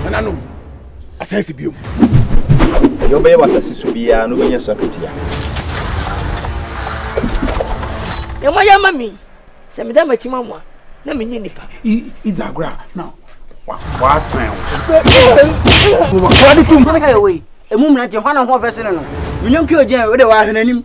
nananom asan si bio ɛyɛ wobɛyɛ wɔ asase so biara no wobɛnya so akatua ɛmɔ yɛ ma me sɛ meda makyi ma mo a na menyɛ nipa idzagora na wasan wade tom ɛmu mmena deɛ hɔ na ho ɔfɛ sene no menyɔnke ɔgyɛn wode waahwene anim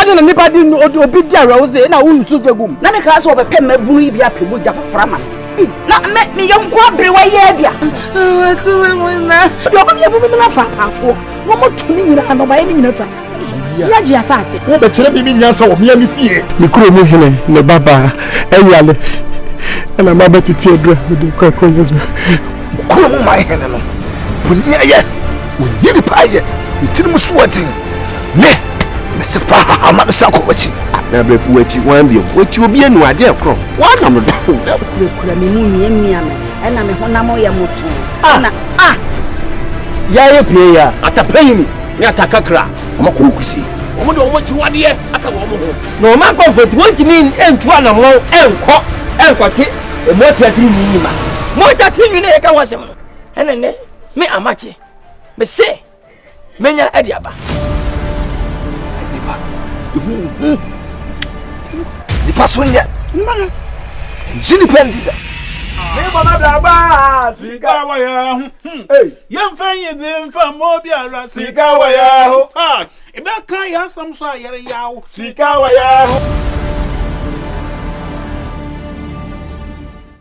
ɛna na nipa di obi di awerɛwose na woyi so gya gum. na mekaa sɛ wɔbɛpɛ mmabunu yi bi apɛ mu gya foforɔ ama me na me meyɛ nko aberewa yi abia wɔtumi mu na deɛ ɔba deɛ ɛbɛbɛ no afa apaafoɔ na ɔmɔto ne nyinaa na ɔbaeɛ ne nyinaa firi asase so ne agye asase wobɛkyerɛ me me nyansa wɔ mea me fie me kuro mu hene ne babaa ɛyale ɛna mabɛtete adura mede kɔ akɔyɛ no kuro mu ma hene no boni ayɛ Ɔnni ne payɛ, ne tirim so wɔ den, Me, mese fa ha ma mesan kɔ w'akyi. Na berɛ fi w'akyi, wan bio, Wɔti obi anu adeɛ ɛkorɔ, Wɔanam no da o da o. Kurakura me mu miamia me, Ɛna me honam yɛ motoo, Ɛna ah! Yaye pie ya. Atapayini ne atakakra, Wɔn akɔ hɔ kusie. Wɔn de wɔn akyiwadeɛ aka wɔn ho. Na wɔn akɔmfo nti wɔntumi ntu anammɔn nkɔ nkɔte mmoa tiatireni yi mma. Mogya tiri nwini a yɛka ho asɛm no, ɛne nnɛ. Me Amakye, me se menya adi aba. Nipa, ehu hu. Nipa so nyɛ. Nima no. Nji nipa ndi da. Me bɔ na bla bla sika wɔ yɛ ho. Yɛn fɛn yi di nfa mo biara sika wɔ yɛ ho. Ebe kan yɛ asam so a yɛre yaw sika wɔ yɛ ho.